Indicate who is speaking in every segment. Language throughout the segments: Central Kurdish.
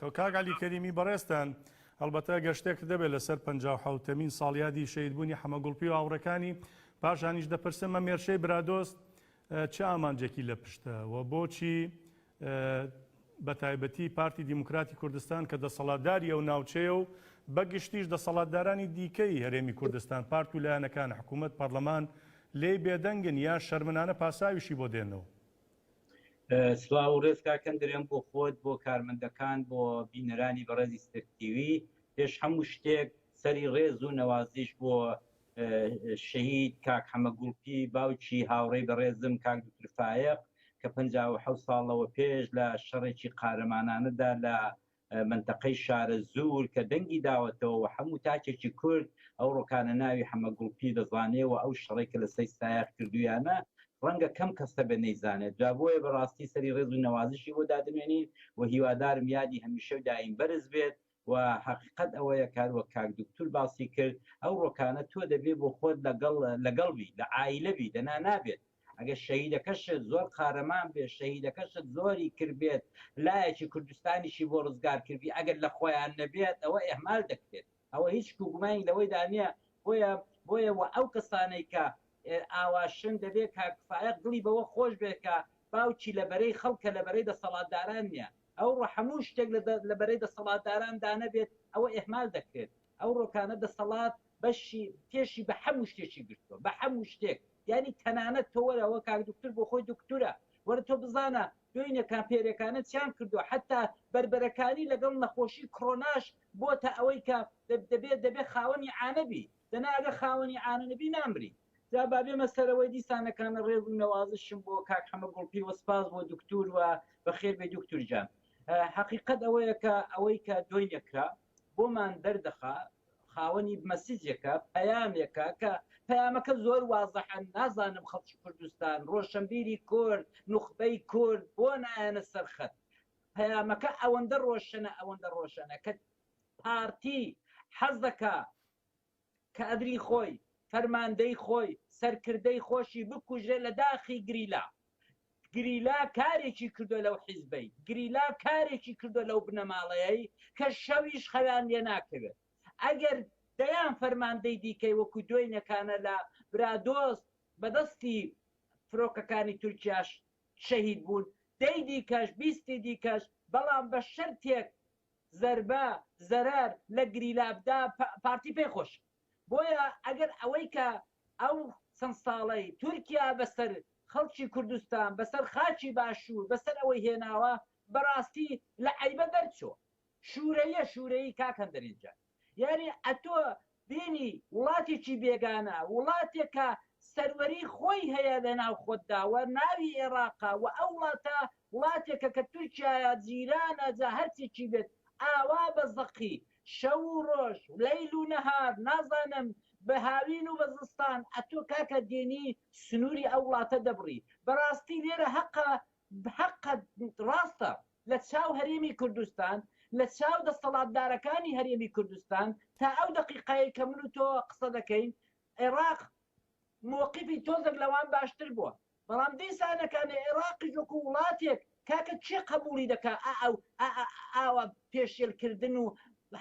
Speaker 1: کە کاک عەلی کەریمی بەڕێزتان هەڵبەتە گەر شتێک دەبێت لەسەر پەنجا و حەوتەمین ساڵیادی شەهیدبوونی حەمە گوڵپی و هاوڕێکانی پاشانیش دەپرسم ئەم هێرشەی برادۆست چ ئامانجێکی لە پشتە و بۆچی بە تایبەتی پارتی دیموکراتی کوردستان کە دەسەڵاتداری ئەو ناوچەیە و بە گشتیش دەسەڵاتدارانی دیکەی هەرێمی کوردستان پارت و لایەنەکان حکوومەت پەرلەمان لێی بێدەنگن یا شەرمنانە پاساویشی بۆ دێنەوە
Speaker 2: سڵاو و ڕێز کاک هەندەرێ هەم بۆ خۆت بۆ کارمەندەکان بۆ بینەرانی بەڕێزی ستەک تیوی پێش هەموو شتێک سەری ڕێز و نەوازیش بۆ شەهید کاک حەمە گوڵپی باوکی هاوڕێی بەڕێزم کاک دکتور فایەق کە 56 ساڵەوە پێش لە شەڕێکی قارەمانانەدا لە مەنتەقەی شارەزوور کە دەنگی داوەتەوە و حەموو تاکێکی کورد ئەو ڕۆکانە ناوی حەمە گوڵپی دەزانێ و ئەو شەڕەی کە لە سەی سایەق کردوویانە ڕەنگە کەم کەس هەبێ نەیزانێت جا بۆیە بە ڕاستی سەری ڕێز و نەوازشی بۆ دادەنوێنین و هیوادارم یادی هەمیشە و دایم بەرز بێت و حەقیقەت ئەوەیە کار وەک کاک دوکتور باسی کرد ئەو ڕۆکانە تۆ دەبێ بۆ خۆت لەگەڵ لەگەڵ بی لە عایلە بی دەنا نابێت ئەگەر شەهیدەکەشت زۆر قارەمان بێت شەهیدەکەشت زۆری کردبێت لایەکی کوردستانیشی بۆ ڕزگار کردی ئەگەر لە خۆیان نەبێت ئەوە ئێهمال دەکرێت ئەوە هیچ کوگومانی لەوەی دانە بۆیە بۆیە و ئەو کەسانەی کە ئاواشن دەبێت کاکفاە دڵی بەوە خۆش بێت کە باوکی لە بەرەی خەڵکە لە بەرەی دەسەڵاتداران نییە ئەو ڕۆ هەموو شتێک لە بەرەی دەسەڵاتداران دانەبێت ئەوە ئێهمال دەکرێت ئەو ڕۆکانە دەسەڵات بەشی تێشی بە هەموو شتێکی گرتووە بە هەموو شتێک یانی تەنانەت تۆ وەرە وە کاک دوکتور بۆ خۆی دوکتورە وەرە تۆ بزانە دوینە کامپێرێکانە چیان کردووە حتا بەربەرەکانی لەگەڵ نەخۆشی کڕۆناش بۆتە ئەوەی کە دەبێت دەبێت خاوەنی عانەبی دەنا ئەگە خاوەنی عانەنەبی نامری جا بابێمە سەرەوەی دیسانەکانە ڕێز و نەوازشم بۆ کاک حەمە گوڵپی وە سپاس بۆ دکتور و بەخێر بێ دکتور جان حقیقت ئەوەیە کە ئەوەی کە دۆینەکرا بۆمان دەردەخا خاوەنی مەسیجێکە پەیامێکە کە پەیامەکە زۆر وازەحە نازانم خەڵکی کوردستان ڕۆشنبیری کورد نوخبەی کورد بۆ نایەنە سەرخەت پەیامەکە ئەوەندە ڕۆشنە ئەوەندە ڕۆشنە کە پارتی حەزەکە کادری خۆی، فەرماندەی خۆی، سەرکردەی خۆشی بکوژرێ لە داخی گریلا. گریلا کارێکی کردوە لەو حیزبەی، گریلا کارێکی کردوە لەو بنەماڵەیەی کە شەویش خەویان لێ ناکەوێت. ئەگەر دەیان فەرماندەی دیکەی وەکو دوێنێکانە لە برادۆست بە دەستی فرۆکەکانی تورکیاش شەهید بوون، دەی دیکەش، بیستی دیکەش، بەڵام بە شەرتێک، زەربە، زەرەر، لە گریلابدا پارتی پێی خۆشە. بۆیە ئەگەر ئەوەی کە ئەو چەند ساڵەی تورکیا بە سەر خەڵکی کوردستان، بە سەر خاکی باشوور، بە سەر ئەوەی هێناوە، بە ڕاستی لە عەیبە دەرچووە. شوورەییە شوورەیی کاک هەندەرێنجان. یانی ئەتۆ دێنی وڵاتێکی بێگانە وڵاتێک کە سەروەری خۆی هەیە لە ناو خۆتدا وە ناوی ئێڕاقە وە ئەو وڵاتە وڵاتێکە کە تورکیایە جیرانە جا هەرچێکی بێت ئاوا بە زەقی شەو و ڕۆژ لەیل و نەهار نازانم بە هاوین و بە زستان ئەتۆ کاکە دێنی سنوری ئەو وڵاتە دەبڕی بەڕاستی لێرە هەقە بەحەق ڕاستە لە چاو هەرێمی کوردستان، لە چاو دەستەڵاتدارەکانی هەرێمی کوردستان، تا ئەو دەقیقەیەی کە من و تۆ قسە دەکەین، عێڕاق مەوقیفی تۆزێک لەوان باشتر بووە. بەڵام دیسانەکانێ عێڕاقیش وەکوو وڵاتێک، کاکە کێ قەبووڵی دەکا ئا ئەو ئا ئاوا پێشێلکردن و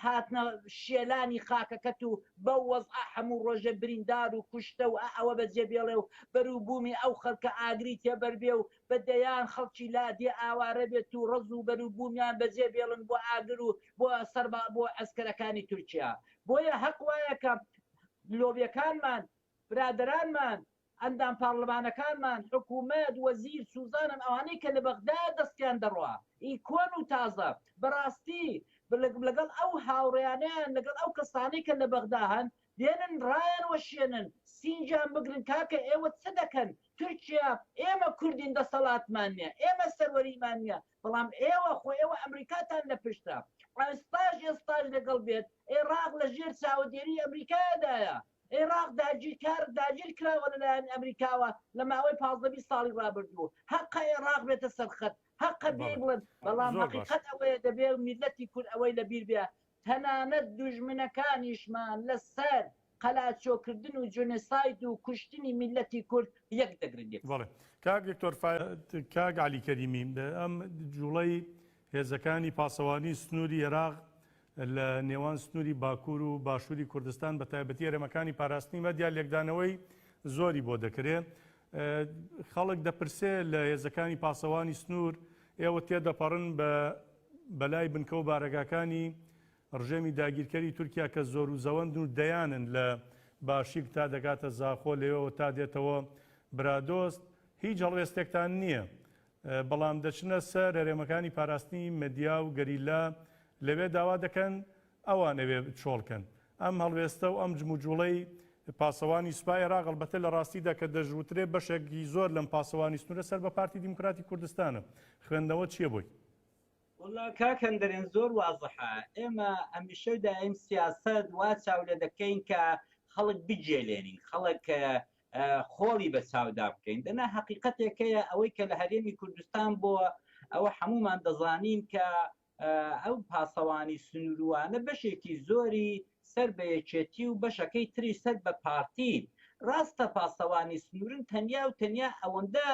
Speaker 2: هاتنە شێلانی خاکەکەت و بەو وەزعە هەموو ڕۆژێ بریندار و کوشتە و ئە ئەوە بەجێ بێڵێ و بەروبوومی ئەو خەلکە ئاگری تێ بەر بێ و بە دەیان خەڵکی لادێ ئاوارە بێت و ڕەز و بەروبوومیان بەجێ بێڵن بۆ ئاگر و بۆ سەر بە بۆ عەسکەرەکانی تورکیا بۆیە هەق وایە کە لۆبێکانمان برادەرانمان ئەندام پارلمانەکانمان، حکومەت، وەزیر، سوزانم ئەوانەی کە لە بەغدا دەستیان دەڕوا، ی کۆن و تازە، بەڕاستی لەگەڵ ئەو هاوڕێیانەیان لەگەڵ ئەو کەسانەی کە لە بەغدا هەن بێنن ڕایان وەشێنن سینگیان بگرن کاکە ئێوە چ دەکەن تورکیا ئێمە کوردین دەسەڵاتمان نیە ئێمە سەروەریمان نیە بەڵام ئێوە خۆ ئێوە ئەمریکاتان لە پشتە ئێستاش ئێستاش لەگەڵ بێت ئێڕاق لە ژێر چاوەدێری ئەمریکایەدایە عێراق داگیرکار داگیرکراوە لەلایەن ئەمریکاوە لە ماوەی پازدە بیست ساڵی ڕابردوو هەقە عێراق بێتە سەر خەت هەقە بێی بڵێن بەڵام هەقیقەت ئەوەیە دەبێ میللەتی کورد ئەوەی لە بیر بێ تەنانەت دوژمنەکانیشمان لە سەر قەلاچۆ کردن و جونساید و کوشتنی میللەتی کورد یەک دەگرن. بەڵێ
Speaker 1: کاک دکتۆر فایەق. کاک عەلی
Speaker 2: کەریمی
Speaker 1: ئەم جووڵەی هێزەکانی پاسەوانی سنووری عێراق لە نێوان سنووری باکوور و باشووری کوردستان بە تایبەتی هەرێمەکانی پاراستنی مەدیا لێکدانەوەی زۆری بۆ دەکرێ. خەڵک دەپرسێ لە هێزەکانی پاسەوانی سنوور ئێوە تێدەپەڕن بە بەلای بنکە و بارەگاکانی ڕژێمی داگیرکەری تورکیا کە زۆر و زەوەندن و دەیانن لە باشیک تا دەگاتە زاخۆ لەوێوە تا دێتەوە برادۆست هیچ هەڵوێستێکتان نییە بەڵام دەچنە سەر هەرێمەکانی پاراستنی مەدیا و گەریلا لەوێ داوا دەکەن ئەوان ئەوێ چۆڵکەن. ئەم هەڵوێستە و ئەم جموجوڵەی پاسەوانی سوپای عێراق ئەڵبەتە لە ڕاستیدا کە دەشوترێ بەشێکی زۆر لەم پاسەوانی سنوورە سەر بە پارتی دیموکراتی کوردستانە، خوێندنەوە چییە بۆی؟ وەڵلا
Speaker 2: کاک هەندەرێن زۆر وازحە، ئێمە هەمیشە دایم سیاسەت وا چاو لێ دەکەین کە خەڵک بگێلێنین، خەڵک خۆڵی بە چاودا بکەین دەنا هەقیقەتێک هەیە ئەوەی کە لە هەرێمی کوردستان بۆوە ئەوە حەموومان دەزانین کە ئەو پاسەوانی سنوروانە بەشێکی زۆری سەر بە یەکێتی و بەشەکەی تری سەر بە پارتین ڕاستە پاسەوانی سنوورن تەنیا و تەنیا ئەوەندە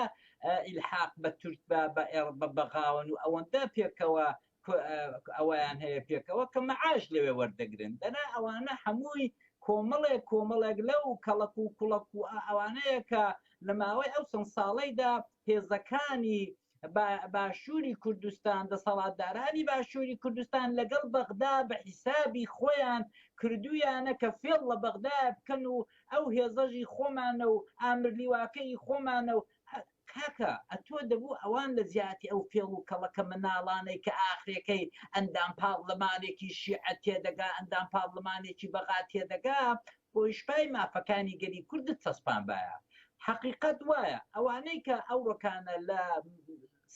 Speaker 2: ئیلحاق بە تورک بە بە ئێڕ بە بەغاون و ئەوەندە پێکەوە ئەوەیان هەیە پێکەوە کە مەعاش لەوێ وەردەگرن دەنا ئەوانە هەمووی کۆمەڵێک کۆمەڵێک لەو کەڵک و کوڵک و ئەوانەیە کە لە ماوەی ئەو چەند ساڵەیدا هێزەکانی باشووری کوردستان دەسەڵاتدارانی باشووری کوردستان لەگەڵ بەغدا بە حیسابی خۆیان کردویانە کە فێڵ لە بەغدا بکەن و ئەو هێزەژی خۆمانە و ئامرلیواکەی خۆمانە و کاکە ئەتۆ دەبوو ئەوان لە جیاتی ئەو فێڵ و کەڵەکە مناڵانەی کە ئاخرێکەی ئەندام پاڕلمانێکی شیعە تێدەگا ئەندام پاڕلمانێکی بەغا تێدەگا بۆ ئیشپای مافەکانی گەلی کوردت چەسپانبایە حەقیقەت وایە ئەوانەی کە ئەوڕۆکانە لە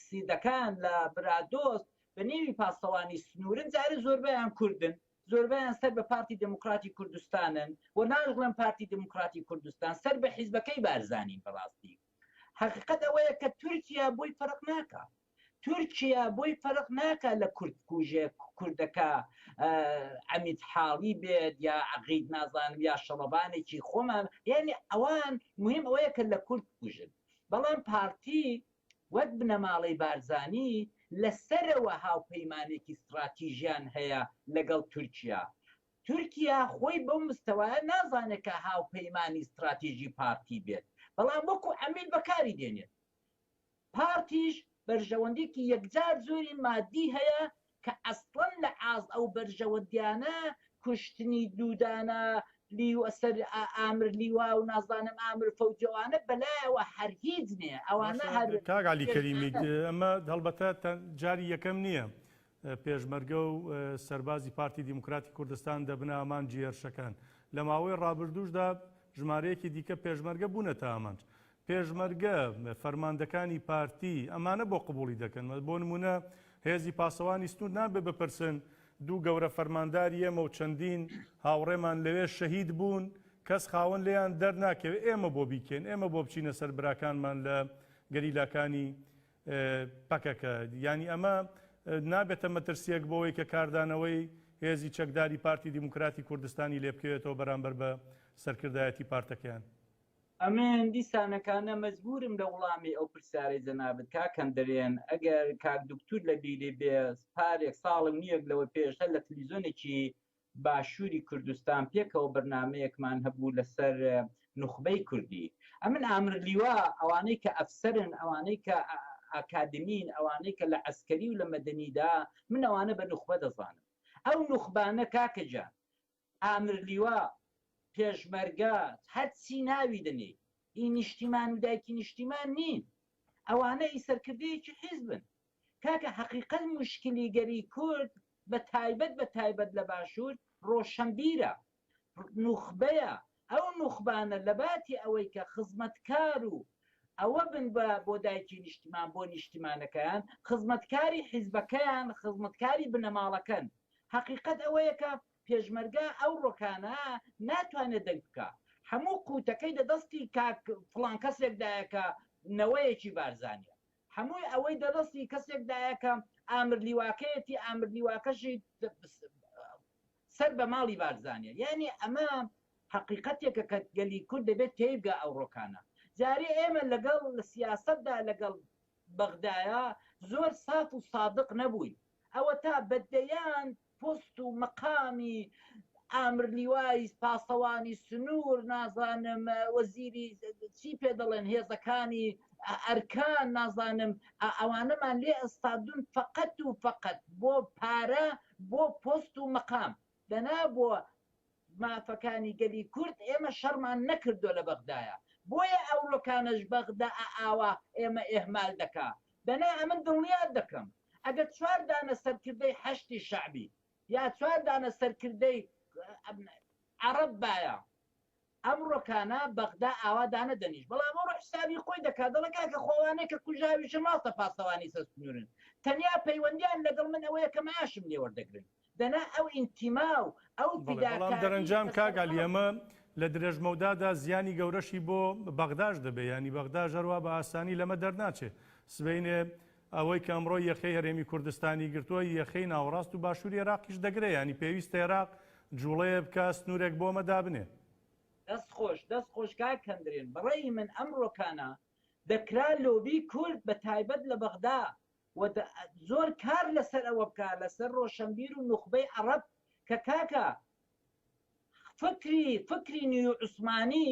Speaker 2: سیدەکان لە برادۆست بە نێوی پاسەوانی سنوورن جارە زۆربیان کوردن زۆربیان سەر بە پارتی دموکراتی کوردستانن و ناژڵێن پارتی دموکراتی کوردستان سەر بە حیزبەکەی بارزانین بەڕاستی هەقیقەت ئەوەیە کە تورکیا بۆی فەرق ناکا تورکیا بۆی فەرق ناکا لە کورد کوژێ کوردەکە ئەمیت حاڵی بێت یا عقید نازانم یا شەڵەبانێکی خۆمان یعنی ئەوان مهم ئەوەیە کە لە کورد کوژن بەڵام پارتی وەک بنەماڵەی بارزانی لەسەرەوە هاوپەیمانێکی استراتیژیان هەیە لەگەڵ تورکیا تورکیا خۆی بەو مستەوایە نازانێت کە هاوپەیمانی ستراتیژی پارتی بێت، بەڵام وەکو عەمیل بەکاری دێنێت. پارتیش بەرژەوەندیەکی یەکجار زۆری مادی هەیە کە ئەسڵەن لە ئاست ئەو بەرژەوەندیانە کوشتنی دوو دانە ئامر لیوا و نازانم ئامر فەوجی ئەوانە بەلایەوە هەر هیچ نیە ئەوانە هەر. کاک عەلی کەریمی
Speaker 1: ئەمە هەڵبەتە جاری یەکەم نیە پێشمەرگە و سەربازی پارتی دیموکراتی کوردستان دەبنە ئامانجی هێرشەکان. لە ماوەی ڕابردووشدا ژمارەیەکی دیکە پێشمەرگە بوونەتە ئامانج. پێشمەرگە، فەرماندەکانی پارتی ئەمانە بۆ قبوڵی دەکەن؟ بۆ نموونە هێزی پاسەوانی سنوور نابێت بپرسن دوو گەورە فەرمانداری ئێمە و چەندین هاوڕێمان لەوێ شەهید بوون، کەس خاوەن لێیان دەرناکەوێت، ئێمە بۆ بیکەین؟ ئێمە بۆ بچینە سەر براکانمان لە گەریلاکانی پەکەکە، یانی ئەمە نابێتە مەترسییەک بۆوەی کە کاردانەوەی هێزی چەکداری پارتی دیموکراتی کوردستانی لێ بکەوێتەوە بەرامبەر بە سەرکردایەتی پارتەکەیان؟ ئەمن
Speaker 2: دیسانەکانە مەجبورم لە وڵامی ئەو پرسیارەی جەنابت کاکەم دەرێن، ئەگەر کاک دوکتور لە بیری بێ پارێک ساڵ و نیوێک لەوە پێش هەر لە تلویزۆنێکی باشوری کوردستان پێکەوە بەرنامەیەکمان هەبوو لەسەر نوخبەی کوردی ئەمن ئامر لیوا ئەوانەی کە ئەفسەرن ئەوانەی کە ئاکادمین ئەوانەی کە لە عەسکەری و لە مەدەنیدا من ئەوانە بە نوخبە دەزانم ئەو نوخبانە کاکە جان ئامر لیوا پێشمەرگە هەرچی ناوی دەنێی ئی نیشتیمان و دایکی نیشتیمان نین ئەوانە ئی سەرکردەیەکی حیزبن کاکە هەقیقەت موشکلی گەری کورد بە تایبەت بە تایبەت لە باشور ڕۆشەنبیرە نوخبەیە ئەو نوخبانە لەباتی ئەوەی کە خزمەتکار و ئەوە بن بە بۆ دایکی نیشتمان بۆ نیشتیمانەکەیان خزمەتکاری حیزبەکەیان خزمەتکاری بنەماڵەکەن هەقیقەت ئەوەیە کە پێشمەرگە ئەو ڕۆکانە ناتوانێت دەنگ بکە هەموو قوتەکەی دە دەستی کاک فڵان کەسێکدایە کە نەوەیەکی بارزانیە هەمووی ئەوەی دەدەستی کەسێک دایە کە ئامر لیواکەیەتی ئامر لیواکەشی سەر بە ماڵی بارزانە یعنی ئەمە حقیقەتێکە کە گەلی کورد دەبێت تێیبگا ئەو ڕۆکانە جارێ ئێمە لەگەڵ لە سیاستدا لەگەڵ بەغدایە زۆر ساف و سادق نەبووین
Speaker 3: ئەوە تا بەدەیان پۆست و مەقامی ئامر لیوای پاسەوانی سنوور نازانم وەزیری چی پێ دەڵێن هێزەکانی ئەرکان نازانم ئەوانەمان لێ ئەستادون فەقەت و فەقەت بۆ پارە بۆ پۆست و مەقام دەنا بۆ مافەکانی گەلی کورد ئێمە شەڕمان نەکردوە لە بەغدایە بۆیە ئەورۆکانەش بەغدا ئاوا ئێمە ئێهمال دەکا دەنا ئەمن دڵنیات دەکەم ئەگەر چوار دانە سەرکردەی حەشدی شەعبی یا چوار دانە سەرکردەی عەڕەب بایە ئەمڕۆکانە بەغدا ئاوا دانەدەنیش بەڵام ئەوڕۆ حسابی خۆی دەکات دەڵە کاکە خۆوانێک کە کوژاویشە ماڵتە پاسەوانی سەسنورن تەنیا پەیوەندیان لەگەڵ من ئەوەیە کە معاشم لێوەردەگرن دەنا ئەو ئینتیما و ئەو بەڵێ بەڵام فیداکارییە دەرەنجام
Speaker 1: کە سەر کاک عەلی خەڵک ئەمە لە درێژمەودادا زیانی گەورەشی بۆ بەغداش دەبێ یانی بەغداش هەروا بە ئاسانی لەمە دەرناچێ سبەینێ ئەوەی کە ئەمڕۆ یەخەی هەرێمی کوردستانی گرتووە یەخەی ناوەڕاست و باشووری ئێراقیش دەگرێ یانی پێویستە ئێراق جووڵەیە بکا سنوورێک بۆ ئەمە دابنێ. دەست خۆش
Speaker 3: دەست خۆش کاک هەندرێن بەڕەئی من ئەمڕۆکانە دەکرا لۆبی کورد بە تایبەت لە بەغدا و دە زۆر کار لە سەر ئەوە بکا لە سەر ڕۆشەنبیر و نوخبەی عەڕەب کە کاکە فکری فکری نیو عوسمانی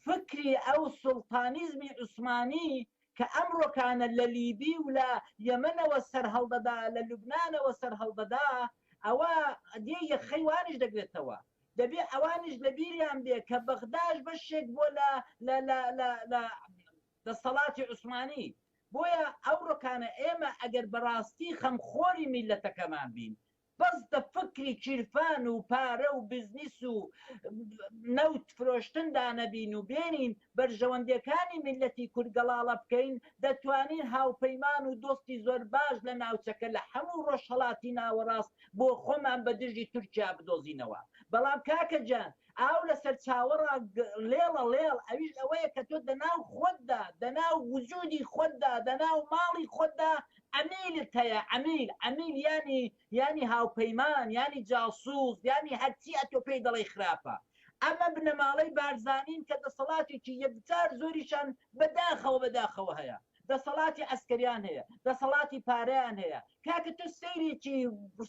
Speaker 3: فکری ئەو سوڵتانیزمی عوسمانی کە ئەمڕۆکانە لە لیبی و لە یەمەنەوە سەر هەڵدەدا لە لوبنانەوە سەر هەڵدەدا ئەوە دێ یەخەی وانیش دەگرێتەوە دەبێ ئەوانیش لە بیریان بێ کە بەغداش بەشێک بۆ لە لە لە لە لە دەسەڵاتی عوسمانی بۆیە ئەوڕۆکانە ئێمە ئەگەر بەڕاستی خەمخۆری میللەتەکەمان بین بەس دە فکری کیرفان و پارە و بزنیس و نەوت فرۆشتندا نەبین و بێنین بەرژەوەندیەکانی میللەتی کورد گەڵاڵە بکەین دەتوانین هاوپەیمان و دۆستی زۆر باش لە ناوچەکە لە حەموو ڕۆژهەڵاتی ناوەڕاست بۆ خۆمان بە دژی تورکیا بدۆزینەوە بەڵام کاکە جان ئاو لە سەرچاوەڕا لێڵە ڵێڵ ئەویش ئەوەیە کە تۆ دەناو خۆتدا دەناو وجودی خۆتدا دەناو ماڵی خۆتدا ئەمیلت هەیە ئەمیل ئەمیل ینی ینی هاوپەیمان ینی جاسوس ینی هەرچی ئەتۆ پێی دەڵی خراپە ئەمە بنەماڵەی بارزانین کە دەسەڵاتێکی یەکجار زۆریشان بەداخەوە بەداخەوە هەیە دەسەڵاتی عەسکەریان هەیە دەسەڵاتی پارەیان هەیە کاکە تۆ سەیرێکی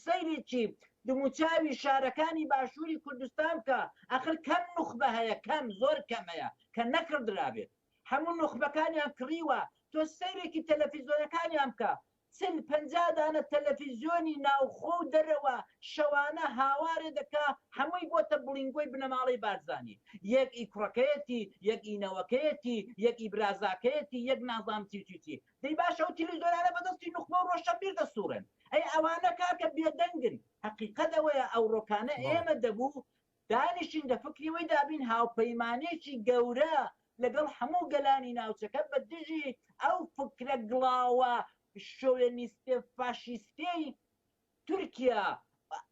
Speaker 3: سەیرێکی دموچاوی شارەکانی باشووری کوردستان بکە ئەخر کەم نوخبە هەیە کەم زۆر کەم هەیە کە نەکڕدرابێت هەموو نوخبەکانیان کڕیوە تۆ سەیرێکی تەلەفیزۆنەکانیان بکە چل پەنجا دانە تەلەفیزیۆنی ناوخۆ و دەرەوە شەوانە هاوارێ دەکا هەمووی بۆتە بڵینگۆی بنەماڵەی بارزانی یەک ئی کوڕەکەیەتی یەک ئی نەوەکەیەتی یەک ئی برازاکەیەتی یەک نازام چی چی چی دەی باشە ئەو تیلیزۆنانە بەدەستی نوخبەو ڕۆشەنبیر دەسوڕێن ئەی ئەوانە کاکە بێدەنگن هەقیقەت ئەوەیە ئەوڕۆکانە ئێمە دەبوو دانیشین لە فکری وی دابین هاوپەیمانیەکی گەورە لەگەڵ هەموو گەلانی ناوچەکە بە دژی ئەو فکرە گڵاوە شۆوێنیستە فاشیستەی تورکیا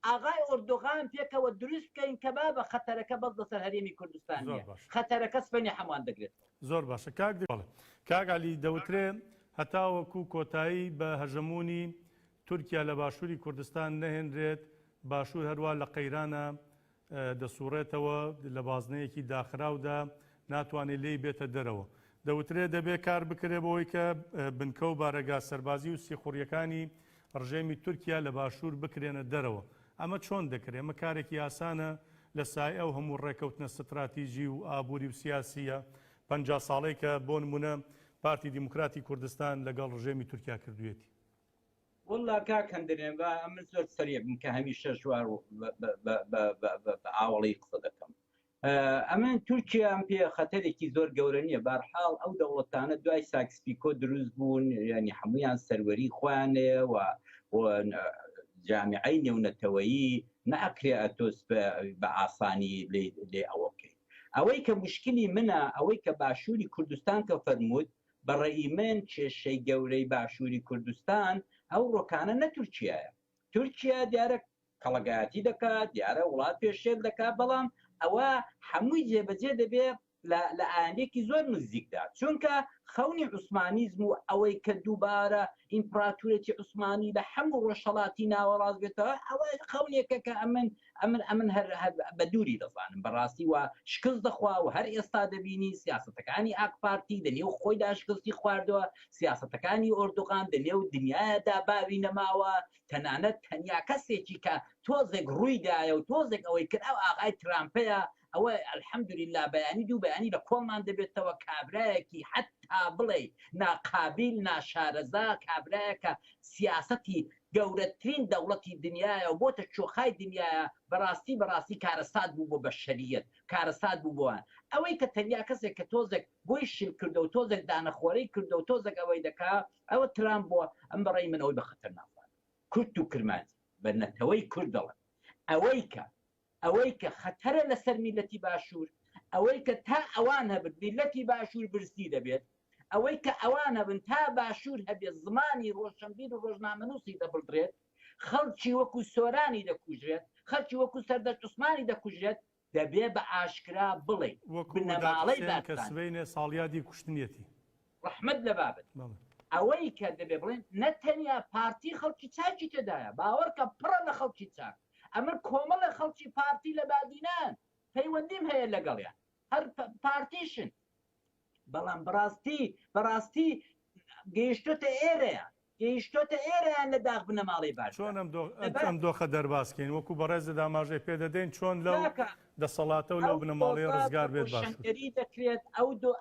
Speaker 3: ئاغای ئۆردۆغان پێکەوە دروست بکەین کە بابە خەتەرەکە بەس لەسەر هەرێمی کوردستان زۆر نیە باش خەتەرەکە سبەینێ هەمووان دەگرێت. زۆر باشە کاک
Speaker 1: دکتۆر. بەڵێ کاک عەلی دەوترێ هەتاوەکو کۆتایی بە هەژەموونی تورکیا لە باشووری کوردستان نەهێنرێت باشوور هەروا لە قەیرانە دەسووڕێتەوە، لە بازنەیەکی داخراودا ناتوانێت لێی بێتە دەرەوە. دەوترێت دەبێت کار بکرێت بەوەی کە بنکە و بارەگا سەربازی و سیخوڕییەکانی ڕژێمی تورکیا لە باشوور بکرێنە دەرەوە. ئەمە چۆن دەکرێت؟ ئەمە کارێکی ئاسانە لە سایەی ئەو هەموو ڕێککەوتنە ستراتیجی و ئابووری و سیاسییە پەنجا ساڵەی کە بۆ نموونە پارتی دیموکراتی کوردستان لەگەڵ ڕژێمی تورکیا کردوویەتی. واللە
Speaker 2: کاک هەندەرێن با ئەمن زۆر سەرێکم کە هەمیشە ژوار بە ئاوەڵی قسە دەکەم ئەمن تورکیا ئەم پێ خەتەرێکی زۆر گەورە نییە بارحاڵ ئەو دەوڵەتانە دوای ساکسپیکۆ دروست بوون ینی هەمویان سەروەری خۆیانەیە و جامیعی نێونەتەوەیی ناکرێ ئەتۆس بە ئاسانی لێ ئەوە بکەیت ئەوەی کە مشکلی منە ئەوەی کە باشووری کوردستان کە فەرمووت بە ڕەئی من کێشەی گەورەی باشووری کوردستان ئەو ڕۆکانە نە تورکیایە تورکیا دیارە کەڵەگایەتی دەکا دیارە وڵات پێشێل دەکا بەڵام ئەوە حەمووی جێبەجێ دەبێ لە لە ئایندێکی زۆر نزیکدا چونکە خەونی
Speaker 3: عوسمانیزم و ئەوەی کە دووبارە ئیمپراتورێتی عوسمانی لە حەموو ڕۆژهەڵاتی ناوەڕاست بێتەوە ئەوە خەونێکە کە ئەمن ئەمن ئەمن هەر هەر بە دووری دەزانم بەڕاستی وا شکست دەخوا و هەر ئێستا دەبینی سیاسەتەکانی ئاک پارتی دە نێو خۆیدا شکستی خواردوە سیاسەتەکانی ئۆردوغان دە نێو دنیایەدا باوی نەماوە تەنانەت تەنیا کەسێکی کە تۆزێک ڕووی دایە و تۆزێک ئەوەی کرد ئەو ئاغای ترامپەیە ئەوە الحمدللە بەیانی دوو بەیانی لە کۆڵمان دەبێتەوە کابرایەکی حەتا بڵێی ناقابیل ناشارەزا کابرایەکە سیاسەتی گەورەترین دەوڵەتی دنیاە و بۆتە چۆخای دنیاە بەڕاستی بەڕاستی کارەسات بوو بۆ بەشەریت کارەسات بوو بۆوان ئەوەی کە تەنیا کەسێک کە تۆزێک بۆی شل کردە و تۆزێک دانەخۆرەی کردە و تۆزێک ئەوەی دەکا ئەوە ترام بووە ئەم بەڕێی من ئەوەی بە خەتەر ناخوارد کورت و کرمانجی بە نەتەوەی کورد دەڵێن ئەوەی کە ئەوەی کە خەتەرە لەسەر میللەتی باشوور، ئەوەی کە تا ئەوان هەبن میللەتی باشوور برسی دەبێت، ئەوەی کە ئەوان هەبن تا باشوور هەبێت زمانی ڕۆشنبیر و ڕۆژنامەنووسی دەبڵدرێت، خەڵکی وەکوو سۆرانی دەکوژرێت، خەڵکی وەکوو سەردەشت عوسمانی دەکوژرێت، دەبێ بە ئاشکرا بڵێین، بنەماڵەی بارزانی. وەکوو مەداد حوسێن کە سبەینێ
Speaker 1: ساڵیادی کوشتنیەتی، ڕەحمەت لە
Speaker 3: بابت ئەوەی کە دەبێ بڵێن نە تەنیا پارتی خەڵکی چاکی تێدایە باوەڕکە پڕە لە خەڵکی چاک ئەمن کۆمەڵە خەڵکی پارتی لە بادینان پەیوەندیم هەیە لەگەڵیان هەر پارتیشن بەڵام بەڕاستی بەڕاستی گەیشتۆتە ئێرەیە گەیشتۆتە ئێرە یان لە داخ بنەماڵەی باشدا؟ چۆن ئەم
Speaker 1: دۆخە دەرباز کەین؟ وەکو بەڕێزت ئاماژەی پێ دەدەین چۆن لەو دەسەڵاتە و لەو بنەماڵەیە ڕزگار بێت باشترە؟ ئەو دۆزە بە ڕۆشنگەری
Speaker 3: دەکرێت،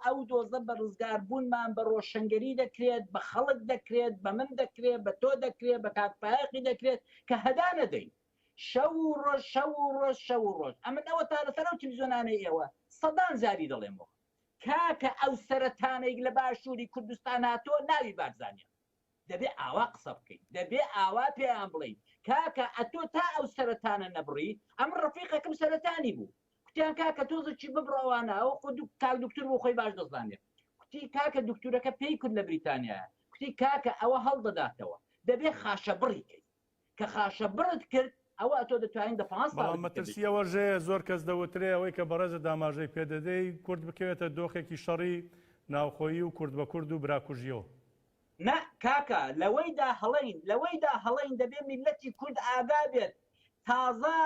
Speaker 3: ئەو دۆزە بە ڕزگاربوونمان بە ڕۆشنگەری دەکرێت، بە خەڵک دەکرێت، بە من دەکرێت، بە تۆ دەکرێت، بە کاک فایەقی دەکرێت کە هەدا نەدەین. شەو و ڕۆژ، شەو و ڕۆژ، شەو و ڕۆژ. ئەمن ئەوەتا لەسەر ئەو تلویزیۆنانەی ئێوە سەدان جاری دەڵێمەوە. کاکە ئەو سەرەتانەیک لە باشوری کوردستان هاتوە ناوی بارزانیە دەبێ ئاوا قسە بکەیت دەبێ ئاوا پێیان بڵێیت کاکە ئەتۆ تا ئەو سەرەتانە نەبڕی ئەم ڕفیقەکەم سەرەتانی بوو کوتیان کاکە تۆزەکی ببڕەوانە ئەو خود کاک دکتور بۆ خۆی باش دەزانێت کوتی کاکە دکتورەکە پێی کورد لە بریتانیا کوتی کاکە ئەوە هەڵدەداتەوە دەبێ خاشە بڕیکەیت کە خاشە بڕت کرد ئەوە ئەتۆ دەتوانین دە پانز بەڵام مەترسی ئەوە
Speaker 1: ژەیە زۆر کەس دەوترێ ئەوەی کە بەڕێزت ئاماژەی پێ دەدەی کورد بکەوێتە دۆخێکی شەڕی ناوخۆیی و کورد بە کورد و براکوژیەوە. نا
Speaker 3: کاکە لەوەیدا هەڵەین، لەوەیدا هەڵەین دەبێ میللەتی کورد ئاگا بێت تازە،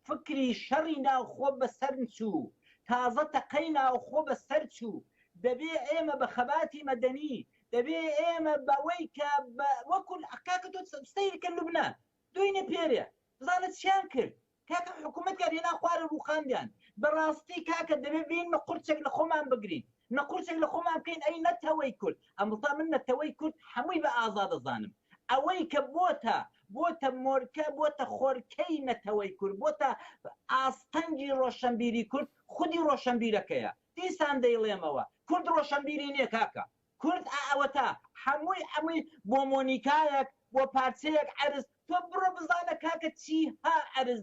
Speaker 3: فکری شەڕی ناوخۆ بەسەرنچوو، تازە تەقەی ناوخۆ بەسەرچوو، دەبێ ئێمە بە خەباتی مەدەنی، دەبێ ئێمە بەوەی کە بە وەکو کاکە تۆ سەیر کە لوبنان دوینێ پێرێ بزانە چیان کرد کاکە حکومەتیان هێنا خوارێ ڕووخاندیان بەڕاستی کاکە دەبێ بێین بە قورچێک لە خۆمان بگرین نە قورچێک لە خۆمان بکەین ئەی نەتەوەی کورد ئەمڵتا من نەتەوەی کورد حەمووی بە ئازا دەزانم ئەوەی کە بۆتە بۆتە مۆرکە بۆتە خۆرکەی نەتەوەی کورد بۆتە ئاستەنگی ڕۆشەنبیری کورد خودی ڕۆشەنبیرەکەیە دیسان دەیڵێمەوە کورد ڕۆشەنبیری نیە کاکە کورد ئا ئەوەتا حەمووی حەمووی بۆ مۆنیکایەک بۆ پارچەیەک عەرز تۆ بڕۆ بزانە کاکە چی ها عەرز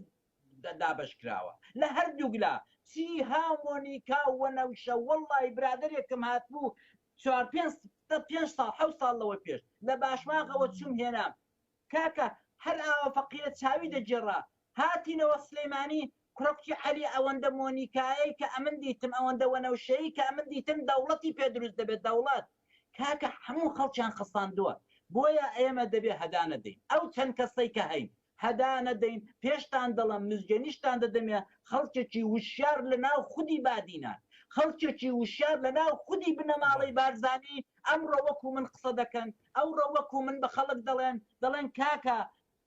Speaker 3: دابەشکراوە لە هەردووک لا چی ها مۆنیکا وەنەوشە وەڵڵای برادەرێکم هاتبوو چوار پێنج دە پێنج ساڵ حەوت ساڵ لەوە پێش لە باشماغەوە چووم هێنام کاکە هەر ئاوا فەقیرە چاوی دەگێڕا هاتینەوە سلێمانی کوڕە کوتی عەلی ئەوەندە مۆنیکایەی کە ئەمن دیتم ئەوەندە وەنەوشەیی کە ئەمن دیتم دەوڵەتی پێ دروست دەبێت دەوڵەت کاکە هەموو خەڵکیان خەساندووە بۆیە ئێمە دەبێ هەدانەدەین ئەو چەند کەسەی کە هەین هەدا نەدەین پێشتان دەڵێم مزگێ نیشتان دەدەمێ خەڵکێکی وشیار لە ناو خودی بادینان خەڵکێکی وشیار لە ناو خودی بنەماڵەی بارزانی ئەمڕۆ وەکو من قسە دەکەن ئەوڕۆ وەکو من بە خەڵک دەڵێن دەڵێن کاکە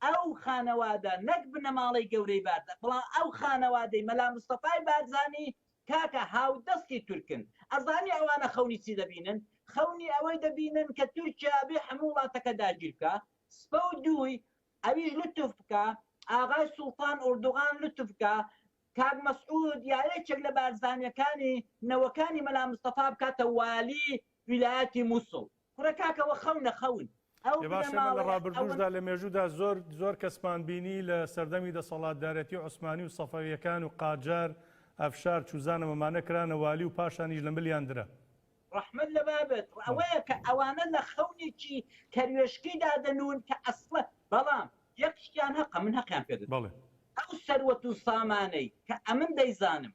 Speaker 3: ئەو خانەوادە نەک بنەماڵەی گەورەی بارزان بەڵام ئەو خانەوادەی مەلا مستەفای بارزانی کاکە هاودەستی تورکن ئەزانی ئەوانە خەونی چی دەبینن خەونی ئەوەی دەبینن کە تورکیا بێ هەموو وڵاتەکە داگیر بکا سپە و دووی ئەویش لوتف بکە ئاغای سوڵتان ئوردوغان لوتف بکە کاک مەسعود یا یەکێک لە بارزانیەکانی نەوەکانی مەلا مستەفا بکاتە والی ویلایەتی موسڵ کورە کاکە وە خەونە خەون ئەو بنەماڵەیە ئەوەن. باشە لە
Speaker 1: ڕابردووشدا لە مێژوودا زۆر زۆر کەسمان بینی لە سەردەمی دەسەڵاتدارێتی عوسمانی و سەفەویەکان و قاجار ئەفشار چوزانم ئەمانە کرانە والی و پاشانیش لە ملیان درا. ڕەحمەت لە
Speaker 3: بابت ئەوەیە کە ئەوانە لە خەونێکی کەروێشکی دادەنوون کە ئەسڵە بەڵام یەک شتیان هەقە من هەقیان پێ دەدەم بەڵێ ئەو سەروەت و سامانەی کە ئەمن دەیزانم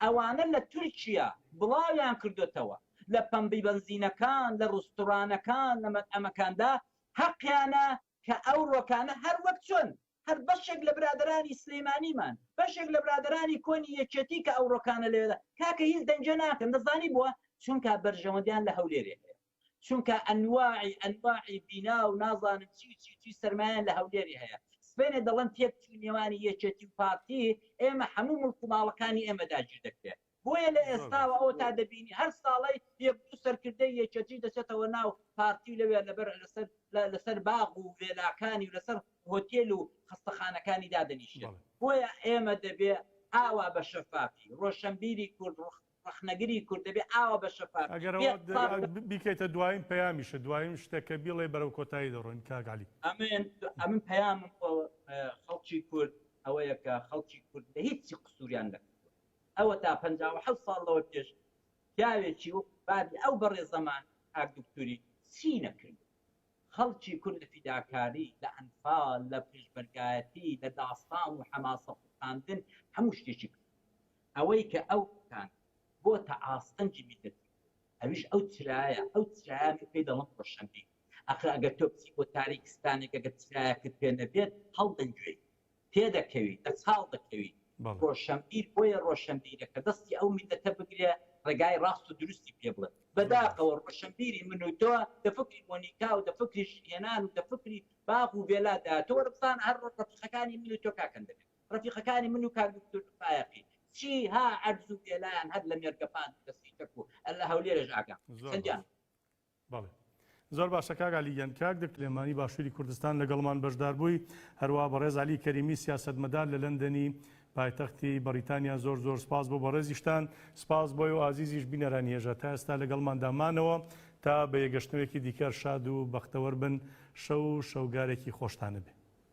Speaker 3: ئەوانە لە تورکیا بڵاویان کردۆتەوە لە پەمبی بەنزینەکان لە ڕوستورانەکان لە مەتعەمەکاندا هەقیانە کە ئەو ڕۆکانە هەر وەک چۆن هەر بەشێک لە برادەرانی سلیمانیمان، بەشێک لە برادەرانی کۆنی یەکێتی کە ئەو ڕۆکانە لەوێدا کاکە هیچ دەنگێ ناکەن دەزانی بۆ؟ چونکا بەرژەوەندیان لە هەولێرێ هەیە چونکا ئەنواعی ئەنواعی بینا و نازانم چی و چی و چی سەرمایەیان لە هەولێرێ هەیە سبەینێ دەڵێن تێکچووی نێوانی یەکێتی و پارتی ئێمە هەموو مڵک و ماڵەکانی ئێمە داگیر دەکرێت بۆیە لە ئێستاوە ئەوە تا دەبینی هەر ساڵەی یەک دوو سەرکردەی یەکێتی دەچێتەوە ناو پارتی و لەوێ لەبەر لەسەر لەسەر باغ و ڤێلاکانی و لەسەر هۆتێل و خەستەخانەکانی دادەنیشێت بۆیە ئێمە دەبێ ئاوا بە شەفافی ڕۆشنبیری کورد ڕخنەگری کورد دەبێ ئاوا بە شەفاف ئەگەرەوە بێت دە- ساڵ دە-
Speaker 1: بیکەیتە دوایین پەیامیشە دوایین شتێک کە بیڵێ بەرەو کۆتایی دەڕۆین کاک عەلی ئەمن ئەمن
Speaker 3: پەیامم بۆ اه، خەڵکی کورد ئەوەیە کە خەڵکی کورد لە هیچی قسووریان نەکردووە ئەوەتا پەنجا و حەوت ساڵ لەوە پێش پیاوێکی وەکو بابی ئەو بەڕێزەمان کاک دوکتوری چی نەکردوە خەڵکی کورد لە فیداکاری لە ئەنفال لە پێشمەرگایەتی لە داستان و حەماسە خوڵقاندن هەموو شتێکی کرد ئەوەی کە ئەو کان بۆتە ئاستەنگی میلەتی ئەویش ئەو چرایە ئەو چرایە من پێی دەڵم ڕۆشنبی ئەخر ئەگەر تۆ بچی بۆ تاریکستانێک ئەگەر چرایەکت پێ نەبێت هەڵدەنگوێی تێدەکەوی دەچاڵ دەکەوی ڕۆشەنبیر بۆیە ڕۆشەنبیرە کە دەستی ئەو میللەتە بگرێ ڕێگای ڕاست و دروستی پێ بڵێ بەداخەوە ڕۆشەنبیری من و تۆ دە فکری مۆنیکا و دە فکری ژن هێنان و دە فکری باغ و ڤێلا دا تۆ وەرە بزانە هەر ڕەفیقەکانی من و تۆ کاک هەندەکە ڕەفیقەکانی من و کاک دوکتور فایەقی چی ها عەرز و ڤێلایان هەر لە مێرگەپان و لە سیتەک و لە هەولێرێش ئاگام هەیە چەندیان بەڵێ
Speaker 1: زۆر باشە کاک عەلی گیان. کاک دکتۆر سلێمانی باشوری کوردستان لەگەڵمان بەشداربووی، هەروا بەڕێز عەلی کەریمی سیاسەتمەدار لە لەندەنی پایتەختی بەڕیتانیا زۆر زۆر سپاس بۆ بەڕێزیشتان، سپاس بۆ ئێوە ئازیزیش بینەرانی هێژا تا ئێستا لەگەڵماندا مانەوە، تا بەیەگەشتنەوەیەکی دیکە شاد و بەختەوەربن شەو و شەوگارێکی خۆشتانەبێ.